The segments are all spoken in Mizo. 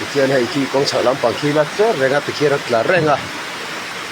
Pathian hei khi kawng chhak lampang khi la tler reng a pathian a tlar reng a.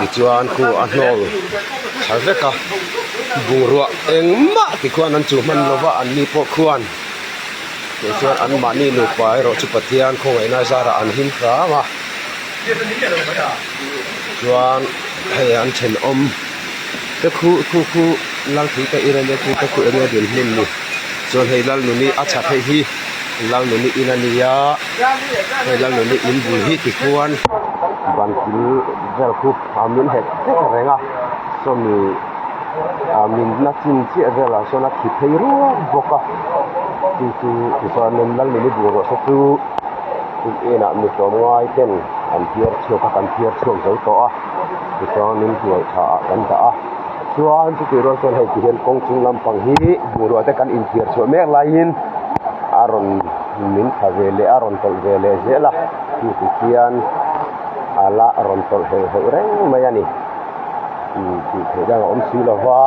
tichuan khu a hnawl tha vek a bungrua engmah te khuan an chuh hman lova an ni pawh khuan tichuan an mahni nupa erawh chu pathian khawngaihnai zara an him hlâm a chuan hei an thenawm te khu khu khu lalthei te irelia khu te khu enge din hmun ni chuan hei lalnuni a chhak theih hi-- Lalnuni in a ni a, he Lalnuni in bul hi ti chuan ban thil vel khu a min het vek reng a, sawmi min na chin chiah vel ah sawn a thi phei ruap bawk a, hei chu tichuan in Lalnuni bungrua te chu in en ah mi tlawm ngai ten an phiar chhuak a, kan phiar chhuak zo tawh a, tichuan in hnuai tha ah kan dah a. Chuan chutih rual chuan hei ti hian kawng chung lampang hi bungrua te kan inthiar chhuah mek laiin a rawn min tha ve leh a rawn tawlh ve leh zel a mi ti khian a la rawn tawlh heuh heuh reng mai a ni imm tih theih dang a awm si lo va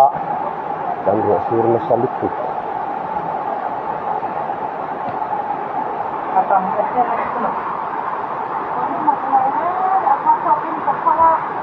kan ruahsur nasa lutuk --